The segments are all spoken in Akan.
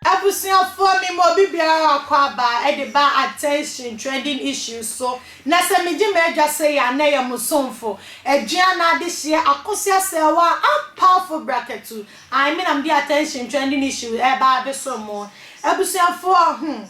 Abusuafoɔ me ma obi biara akɔ aba de ba attention trending issues so na sɛ me gye m'adwa sei a na yɛ mo somfo, aduan na adehyeɛ akosua sɛɛwaa ampawfo brakatu. Ae me na mede attention trending issue reba abesoro mo abusuafoɔ hmm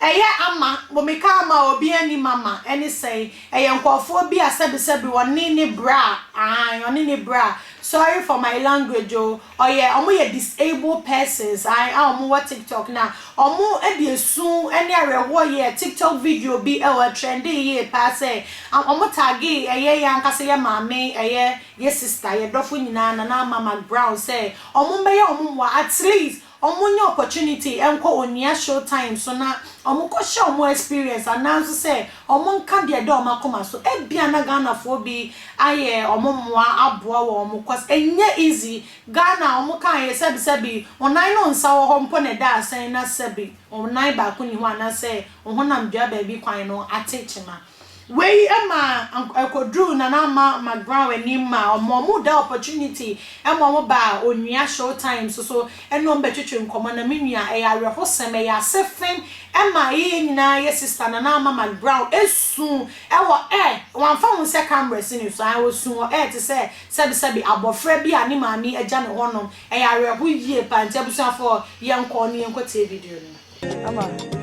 ɛyɛ ama mo meka ama a obi anni mama ɛne sɛi ɛyɛ nkurɔfoɔ bi a sɛbi sɛbi ɔne ne bra ae ɔne ne bra sorry for my language o ɔyɛ ɔmo yɛ disabled persons ae a ɔmo wɔ tiktok na ɔmo de esu ɛne awerɛhoɔ yɛɛ tiktok video bi ɛwɔ ɛtrendee yie paa sɛ ɔmo tagee ɛyɛ yɛn ankasa yɛ maame ɛyɛ Yɛ sister, yɛ dɔfo nyinaa Nana Ama McBrown sɛ ɔmo mbɛyɛ ɔmo mmoa at least ɔmo nyɛ opportunity nkɔ Onua show time so na ɔmo kɔ share ɔmo experience anaa nso sɛ ɔmo nka deɛ ɛda ɔmo akoma so ebia na Ghanafoɔ bi ayɛ ɔmo mmoa aboa wɔn mo cos ɛnyɛ easy Ghana ɔmo kaa yɛ sɛbi sɛbi onan ne onsa wɔ hɔ mpo na ɛda asɛn na sɛbi onan baako nni hɔ anaa sɛ ohonam dua baabi kwan no ate kyema Wei ma ɛkɔduruu Nana Ama McGraw anim ma ɔmaa wɔn da opportunity ma wɔn baa Onua Showtimes so ne wɔn bɛtwetwe nkɔmmɔ na me nua ɛyɛ awerɛhosɛm, ɛyɛ asefem ma ɛyɛ yɛn nyinaa yɛ sister Nana Ama McGraw su wɔ air, wamfa ho sɛ camera si ne so, ae ɔsu wɔ air te sɛ sɛbesɛbe abɔfra bi a ne maame agya no hɔnom, ɛyɛ awerɛho yie paa, nti abusuafoɔ yɛnkɔ na yɛnkɔtie video no. Ama.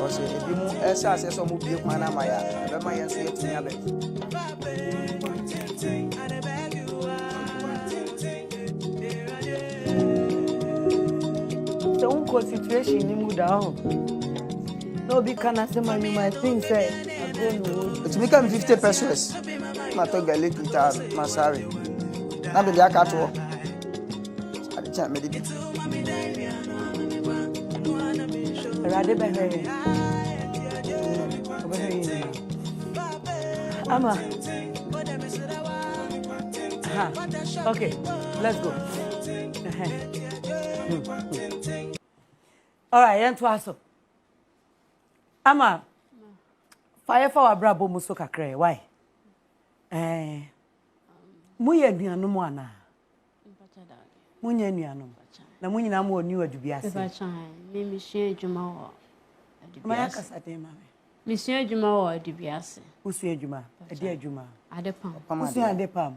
Wɔsi ebi mu ɛsɛ aseɛ sɛ ɔmo bie kwan ama yɛ a ɛbɛma yɛn nso yɛtumi abɛ. sɛ wonkɔ situation no mu da hɔ na obi ka no asɛm a you might think sɛ agorɔ na ɔwɔ di ɛtumi ka me 50 pesos matɔ garlic ntaa masare na mede aka toɔ ade kye a mede di. Awurade bɛhwɛ yɛn. Ɔbɛhwɛ yɛn nyinaa. Ama. Aha. Okay. Let's go. Ɛhɛ. Hmm. All right, yɛn to aso. Ama. Fa yɛ fa w'abrabɔ mu so kakra. Why? Ɛɛ. Eh. Moyɛ anuanom anaa? Monyɛ anuanom. Na mo nyinaa mowɔ New Adubi ase. Mesua adwuma wɔ Adubi ase. Kasa den ma me. Mesua adwuma wɔ Adubi ase. Wosua adwuma? Ɛde adwuma? Adepam. Wosua adepam?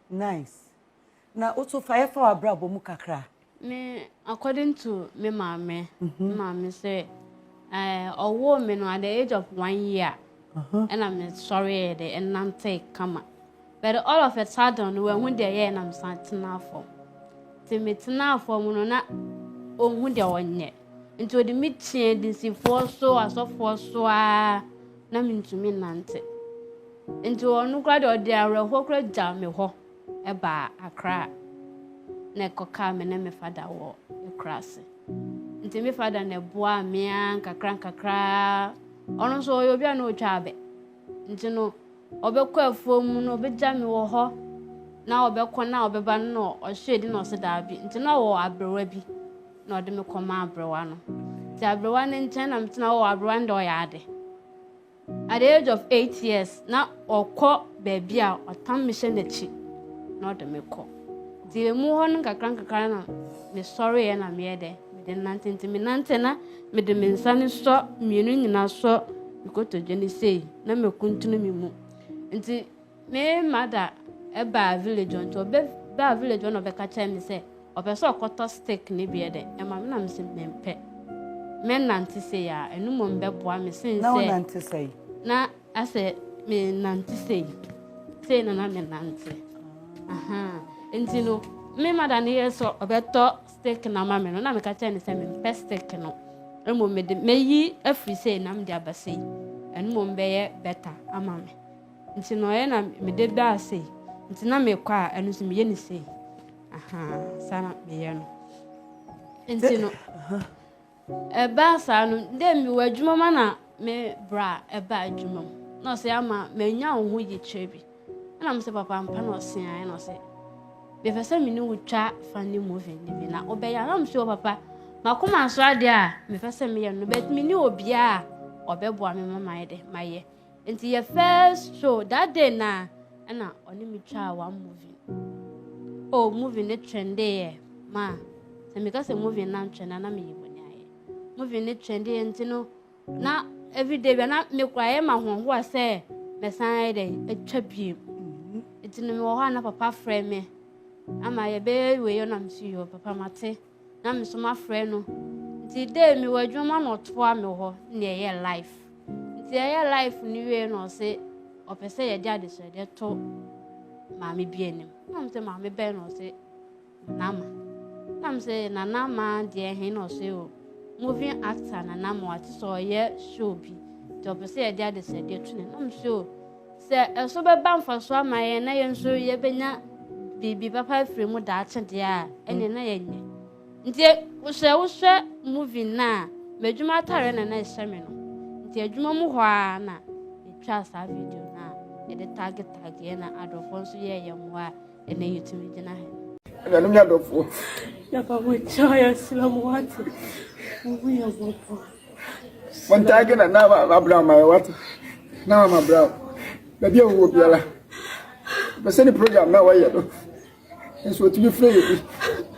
Nice. Na woso fa yɛ fa w'abrabɔ mu kakra. Me according to me maame, me maame sɛ eh, ɔwoo me no at the age of one year ɛna me sɔreɛ de ɛnante kama but all of a sudden no wahu deɛ yɛɛ na mesan tenaa fam nti me tenaa fam no na ɔhu deɛ ɔnyɛ nti ɔde me kyeɛ dinsifoɔ so asɔfoɔ so a na mentumi nante nti ɔno koraa deɛ ɔde awerɛhoɔ koraa gyaa me hɔ baa Accra na ɛkɔkaa me ne me fada wɔ Akurase. Nti me fada na ɛboaa me ara nkakra nkakra. Ɔno nso ɔyɛ obi a na ɔtwa abɛ. Nti no, ɔbɛkɔ afuo mu no ɔbɛgya me wɔ hɔ na ɔbɛkɔ na ɔbɛba no na ɔhwɛ di na ɔse daabi. Nti na ɔwɔ aberewa bi na ɔde me kɔma aberewa no. Nti aberewa no nkyɛn na metena hɔ. Aberewa no deɛ ɔyɛ ade. At the age of eight years, na ɔkɔ baabi a ɔtam mehyɛ n'akyi na ɔde me kɔ. Nti emu hɔ no nkakrankakra na mesɔreeɛ na meyɛ dɛ mede nante nti menante na mede me nsa no sɔ mmienu nyinaa sɔ mekotodwe no sei na mekuntunu me mu nti Me mother baa village hɔ ntsi ɔbɛ baa village hɔ na ɔbɛka kyerɛɛ me sɛ ɔpɛ sɛ ɔkɔtɔ stick ne bi ɛdɛ ɛma me na me se mempɛ mɛ nante sei aa ɛno mmom bɛboa me sen sɛ. Na wo nante sɛi? Na asɛ me nante sei sei na na me nante ahaa nti no me mother no yɛ sɛ ɔbɛtɔ stick na ma me no na meka kyerɛ ne sɛ mempɛ stick no mmom mede mɛyi afiri sei na mede aba sei ɛno mmom bɛyɛ better ama me. Nti no ɔyɛ na mede da ase nti na mekɔ a ɛno nso meyɛ ne sei ahaa saa na meyɛ no nti no ɛbaa saa no dɛ mewɔ adwuma ma na me bra ɛba adwuma mu na ɔsɛ ama manya wo ho yikyerɛ bi ɛna mesɛ papa mpa na ɔse ae na ɔsɛ mepɛ sɛ mene wo twa fa ne movie no bi na wobɛyɛ na mesɛ papa makoma nso adeɛ a mepɛ sɛ meyɛ no but mene obiaa ɔbɛboa me ma mayɛ dɛ mayɛ Nti yɛ first show that day na ɛna ɔne me twaa one movie oh movie ne trendy yɛ ma sɛ meka sɛ movie na ntwɛn na na meyɛ bɔne ayɛ movie ne trendy yɛ nti no na everyday bia na mekora yɛ ma hohoa sɛ mɛsan yɛ dɛ atwa bie mhm. nti no mewɔ hɔ a na papa frɛ me ama yɛbɛyɛ wei ɔnam so yɛ papa mate na me so mafrɛ no nti dee mewɔ adwuma na ɔtoa me hɔ na ɛyɛ life nti ɛyɛ life no wie na ɔse ɔpɛ sɛ yɛde adesrɛdeɛ to maame bi anim na m sɛ maame bɛn na ɔse nama na m sɛ nanama deɛ he na ɔse o moving actor nanama ɔte sɛ ɔyɛ show bi nti ɔpɛ sɛ yɛde adesrɛdeɛ to ne na m sɛ o Sɛ ɛso bɛba mfaso ama yɛn na yɛn nso yɛbɛnya biribi papa afiri mu daakye deɛ a, ɛneɛ na yɛnyɛ. Nti sɛ wohwɛ movie no a, m'adwuma atareɛ na na ɛhyɛ me no. Nti adwuma mu hɔ a na metwaa saa video no a yɛde tagetageɛ na adɔfoɔ nso yɛɛ yɛn mmoa a ɛnɛ yɛtumi gyina he. Anuanom ne adɔfoɔ. Yɛba mo nkyɛn a yɛsrɛ mo wate. Mohu yɛ mmɔbɔ. Montaage na na abra ma yɛ wate. Na ama bra. Baabi a wowɔ biara. Bɛsɛ ne program na wɔyɛ no. Nso otumi frɛ yɛ bi.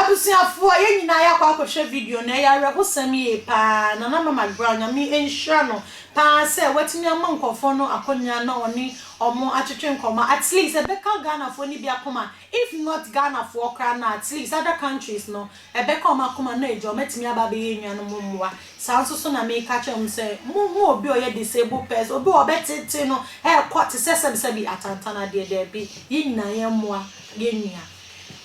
Abusuafoɔ yɛn nyinaa yɛakɔ akɔhwɛ video no ɛyɛ awerɛhosɛm yie paa Nana Mama Brown Nyame nhyira no paa sɛ watumi ama nkorɔfoɔ no akwanya na ɔne wɔn atwetwe nkɔmmɔ at least ɛbɛka Ghanafoɔ no bi akoma If not Ghana foɔ koraa no at least other countries no ɛbɛka wɔn akoma no agya wɔn atumi aba abɛyɛ enuanom mmoa. Saa nso so na meka kyerɛ wɔn sɛ mo hu obi a ɔyɛ disabled person obi a wɔbɛtete no ɛɛkɔ te sɛ sɛbi sɛbi atantan adeɛ daabi yɛn nyinaa yɛn mmoa yɛn nua.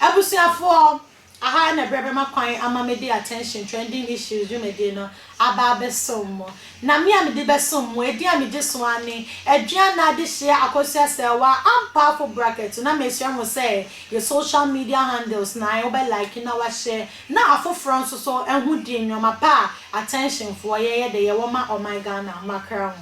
Abusuafoɔ Aha na berɛ bɛma kwan ama me de Attention Trending Issues dwumadie no aba abɛsom mo. Na me a mede bɛsom mo, edin a megye so ara ne, Aduana Adehyeɛ Akosua Selwa, ampaafo bracket. Na mesrɛ mo sɛ, yɛ social media handles no ae, wobɛ like na washare na afoforɔ nso so ahu deɛ nnoɔma pa a Attention foɔ yɛyɛ dɛ yɛwɔ ma ɔman Ghana, makra ho.